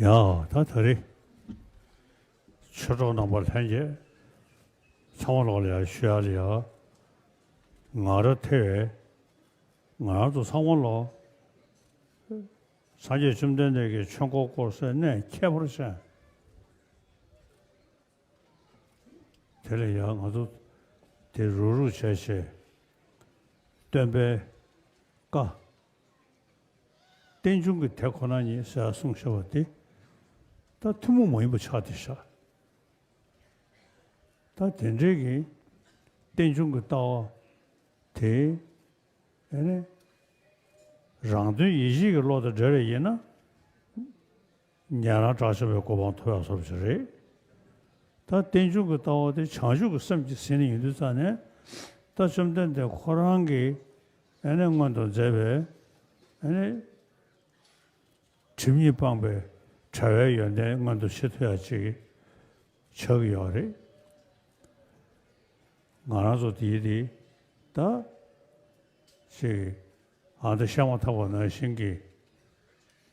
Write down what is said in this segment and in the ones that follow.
ཡང་དག་ད་རེས་ཆོས་གྲོགས་རྣམ་པ་ལྷན་རྒྱས་ཚང་མ་ལོག་ལ་ཡ་ཤུ་ཡ་ལ་ཡ་ང་ར་ཐེ་བས་ང་རང་ཚོ་ཚང་མ་ལོག་སངས་རྒྱས་བཅོམ་ལྡན་འདས་ཀྱི་ཆོས་འཁོར་བསྐོར་སའི་གནས་ཁྱད་པར་ཅན་དེ་ལ་ཡ་ང་ཚོ་དེ་རུག་རུག་བྱས་བྱས་སྟོན་པའི་བཀའ། རྟེན་འབྱུང་གི་དེ་ཁོ་ན་ཉིད་གསལ་ལ་གསུངས་ཤེས་པ་དེ་ལྟར་ཐུན་མོང་མ་ཡིན་པ་ཆགས་ཏེ་བཞག། ད་དེ་འབྲེལ་གྱི་རྟེན་འབྱུང་གི་ལྟ་བ་དེ་ནི་རང་དོན་ཡེ་ཤེས་ཀྱི་བློ་དང་འབྲེལ་བ་ཡིན་ན། ཉན་རང་གྲགས་ཆེ་བའི་གོ་འཕང་ཐོབ་ཡག་སོབ་ཅིག་རེད། ད་རྟེན་འབྱུང་གི་ལྟ་བ་དེ་བྱང་ཆུབ་ཀྱི་སེམས་ཀྱི་ཟིན་ཡིན་དུས་རྩ་ནས་ད་བཅོམ་ལྡན་འདས་ཁོ་རང་གི་ཨནི་སྔོན་དུ་མཛད་པའི་ཨནི། ཁྲིམས་ཉིད་སྤངས་པའི་བྲལ་བའི་ཡོན་ཏན་མངོན་དུ་བྱེད་ཐུབ་ཡག་ཅིག་ཆགས་ཀྱི་ཡོག་རེད། ང་རང་ཚོ་དེའི་དེ་ད་ཅིག་ཨང་ད་ཤ་མ་ཐག་པ་ནང་བཞིན་གྱི།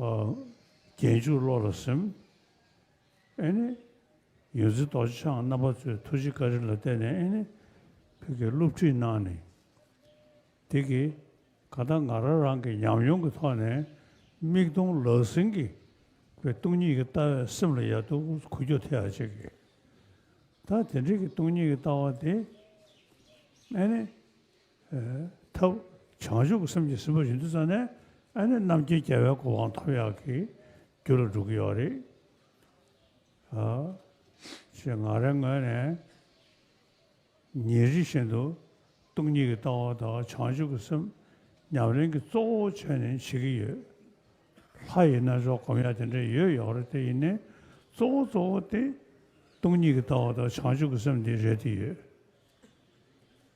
རྒྱན་འཇུག་བློ་ལ་སིམ། ཨེ་ནི། ཡོན་ཚི་རྡོ་རྗེ་འཆང་རྣམ་པ་ཚོས་ཐུགས་རྗེ་བཀའ་དྲིན་ལ་བརྟེན་ནས་ཨེ་ནི། ཕུད་ཀྱི་བསླུ་བྲིད་གནང་ནི། དེ་གིས་ག་ལྟར་ང་རང་རང་གི་ཉམས་མྱོང་གི་ཐོག་ནས་མིག་མཐོང་ལག་ཟིན་གྱི་བའི་སྟོང་ཉིད་ཀྱི་ལྟ་བས་སེམས་ལ་ཡར་ཐུག་གུ་རྒྱོ་ཐེ་ཡར་བྱེད་ཀྱི། ད་དེ་འདྲིས་ཀྱི་སྟོང་ཉིད་ཀྱི་ལྟ་བ་དེ་ཨེ་ནི། ཐབས། བྱང་ཆུབ་ཀྱི་སེམས་ཀྱིས་སྲིད་པ་བཞི་འདི་བཙལ་ནས་ཨ་ནི་རྣམ་མཁྱེན་རྒྱལ་བའི་གོ་འཕང་ཐོབ་ཡག་གི་རྒྱུ་ལ་འགྲོ་གི་ཡོད་རེད། ཞེས་ངང་རེ་ངོས་ནས་ཉིན་རེ་བཞིན་དུ་སྟོང་ཉིད་ཀྱི་ལྟ་བ་དང་བྱང་ཆུབ་ཀྱི་སེམས་ཉམས་ལེན་གྱི་གཙོ་བོ་བྱས་ནས་བྱེད་ཀྱི་ཡོད། ལྷ་ཡི་རྣལ་འབྱོར་གོམས་ཡག་དེ་འདྲ་ཡོད་ཡོད་རེད་དེ་ཡིན་ནའི་གཙོ་བོ་གཙོ་བོ་སྟེ་སྟོང་ཉིད་ཀྱི་ལྟ་བ་དང་བྱང་ཆུབ་ཀྱི་སེམས་འདི་རེད་དེ་ཡོད།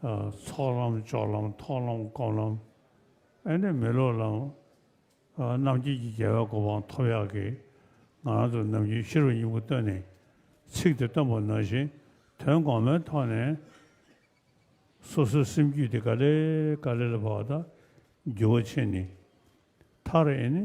ཚོགས་ལམ་ཅོག་ལམ་ཐོག་ལམ་སྐོམ་ལམ་ཨེ་འདྲ་མི་ལོག་ལམ། རྣམ་མཁྱེན་གྱི་རྒྱལ་བའི་གོ་འཕང་ཐོབ་ཡག་གི། ང་རང་ཚོ་ནམ་རྒྱུན་ཤི་རོ་སྙིང་པོ་བཏོན་ནས་ཚིག་དེ་བཏོན་པ་ནང་བཞིན་དོན་གོང་མའི་ཐོག་ནས་སོ་སོའི་སེམས་རྒྱུད་དེ་ག་ལེ་ག་ལེ་ལ་བབས་དང་རྒྱུ་བ་ཕྱེ་ནས་མཐར་ཨེ་ནི།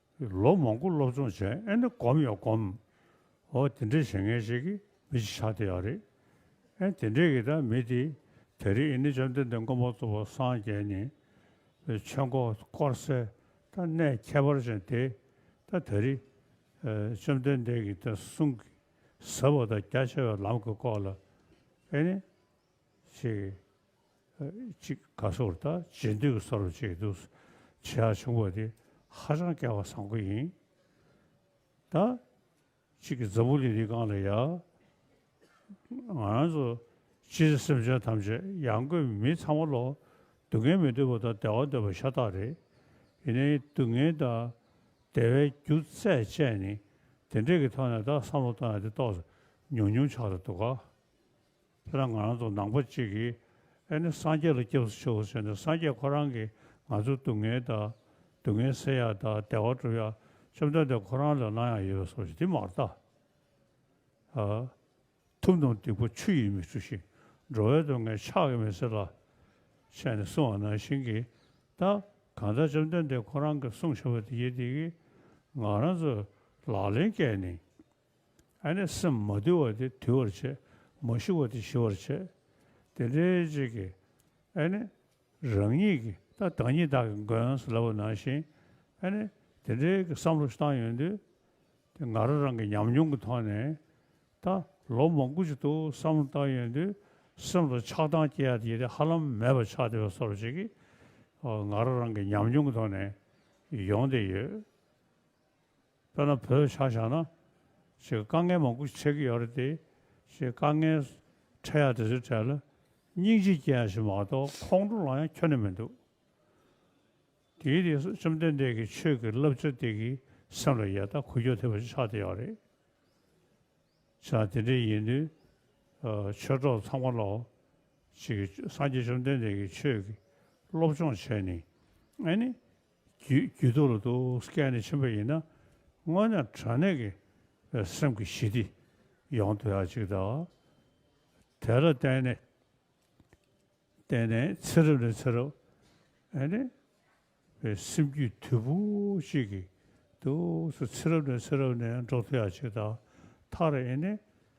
ལོ་མང་པོ་སློབ་སྦྱོང་བྱས་ཨེ་འདྲ་སྒོམ་ཡང་སྒོམ། འོ་དེ་འདྲའི་བྱེད་ངན་ཞིག་གིས་མི་ཅི་ཆགས་དེ་ཡག་རེད། ཨེ་དེ་འདྲས་ཀྱིས་དང་མི་དེ། དེ་རིང་ཨེ་ནི་བཅོམ་ལྡན་འདས་མགོན་པོ་གཙོ་བོ་སངས་རྒྱས་ནི། ཆོས་འཁོར་བསྐོར་གསལ་ད་གནས་ཁྱད་པར་ཅན་དེ། ད་དེ་རིང། བཅོམ་ལྡན་འདས་ཀྱིས་ད་གསུང་གི་ཟབ་བ་དང་རྒྱ་ཆེ་བའི་ལམ་གྱི་སྐོར་ལ། ཨེ་ནི། ཅེས། གཅིག་དགའ་སོགས་རེ་དང་རྗེས་འདོད་ཀྱི་ས་རུ་བཅས་འདུག། བྱེ་བྲག་ཆུང་བ་དེ་ཧ་ཅང་སྐལ་བ་བཟང་པོ་ཡིན། ད་གཅིག་གིས་འཛམ་བུ་གླིང་འདི་གང་ལ་ཡ། ང་རང་ཚོ་སྤྱིར་ན་སེམས་ཅན་ཐམས་ཅད་ཡང་སྒོས་མི་ཚང་མ་ལོག། སྡུག་བསྔལ་མི་འདོད་པ་དང་བདེ་བ་འདོད་པ་ཤ་སྟག་རེད། ཡིན་ནའི་སྡུག་བསྔལ་དང་བདེ་བའི་རྒྱུ་རྩལ་ཅན་ནི་དེ་འདྲས་ཀྱི་ཐོག་ནས་ད་བསམ་བློ་བཏང་ཡང་དེ་རྟོགས་ཉུང་ཉུང་ཆགས་ཏེ་འདུག་ག། ཁྱེད་རང་ང་རང་ཚོ་ནང་པ་གཅིག་གིས་ཨེ་ནི་སངས་རྒྱས་ལ་སྐྱབས་སུ་མཆིའོ་ཟེར་ནས་སངས་རྒྱས་ཁོ་རང་གིས་ང་ཚོའི་སྡུག་བསྔལ་དག་སྡུག་བསྔལ་སེལ་ཡག་དག་བདེ་བ་སྒྲུབ་ཡག་བཅོམ་ལྡན་འདས་ཁོ་རང་ལས་གནང་ཡག་ཡོད་སོགས་ཀྱི་དེ་མ་རྟགས་ཐུབ་ནོ་སྡིག་པ་ཆུ་ཡིས་མི་འཁྲུ་ཞིང་འགྲོ་བའི་སྡུག་བསྔལ་ཕྱག་གིས་མི་སེལ་ལ། བཤད་ནས་གསུང་བ་ནང་བཞིན་གྱིས་ད་གང་ལྟར་བཅོམ་ལྡན་འདས་ཁོ་རང་གིས་གསུང་བཞིན་པ་དེ་ཡི་དེ་གིས་ང་རང་ཚོས་ལག་ལེན་བཀལ་ནས་ཨ་ནི་སེམས་མ་དུལ་བ་དེ་དུལ་བར་བྱེད། མ་ཞི་བ་དེ་ཞི་བར་བྱེད། དེ་འདྲའི་རྗེས་ཀྱི་ཨ་ནི་རང་ཉིད་ཀྱི་ད་བདག་ཉིད་བདག་གི་མགོན་སུ་ལ་བ་ན་ཞིང་ཨ་ནི་དེ་འདྲའི་གི་བསམ་བློ་བཏང་ཡོང་དུས་དེ་ང་རང་རང་གི་ཉམས་མྱོང་གི་ཐོག་ནས་ད་ལོ་མང་དགུ་ཅིག་ཏུ་བསམ་བློ་བཏང་ཡོང་དུས་སེམས་ལ་ཆགས་སྡང་སྐྱེ་ཡ་དེ་ཧ་ལམ་མེད་པ་ཆགས་བསྡད་པ་སོགས་ཅིག་གི་ང་རང་རང་གི་ཉམས་མྱོང་གི་ཐོག་ནས་ཡོང་བསྡད་ཡོད། དཔེར་ན་བོད་ཆ་བཞག་ན། ཞེས་དཀའ་ངལ་མང་པོ་འཕྲད་ཀྱི་ཡོད་རེད་དེ། ཞེས་དཀའ་ངལ་འཕྲད་ཡག་དེ་ཚོའི་གྲས་ལ་སྙིང་རྗེ་སྐྱེ་ཡག་ཞིག་མ་གཏོགས་ཁོང་ཁྲོ་ལངས་ཡག་ཁྱོན་ནས་མི་འདུག། དེའི་རིགས་སུ་བཅོམ་ལྡན་འདས་ཀྱི་ཆོས་ཀྱི་བསླབ་བྱ་དེ་གིས་སེམས་ལ་ཡལ་དང་གུ་ཡོད་ཐེབས་པ་ཞིག་ཆགས་བསྡད་ཡོད་རེད། ཆ་དེ་འདྲའི་ཡིན་དུས། ཆོས་གྲོགས་ཚང་མ་ལ། ཅིག་སངས་རྒྱས་བཅོམ་ལྡན་འདས་ཀྱི་ཆོས་ཀྱི་སློབ་སྦྱོང་བྱས་ནས། རྒྱུད་དུ་ལ་དུ་སྐད་ནི་ཆེན་པོ་ཡིན་ན་སྔོན་ན་དྲ་གནས་ཀྱི་སེམས་ཀྱི་ཞི་བདེ་ཡོང་དུ་ཡག་ཅིག་གདའ། དེ་ལ་བརྟེན་ནས་བརྟེན་ནས་ཚེ་རབས་ནས་ཚེ་རབས་ཨེ་ནི་བའི་སེམས་རྒྱུད་དུལ་པོ་ཅིག་གིས་དུ་སུ་ཚེ་རབས་ནས་ཚེ་རབས་ནས་འགྲོ་དུ་ཡག་ཅིག་གདའ། མཐར་ཨེ་ནི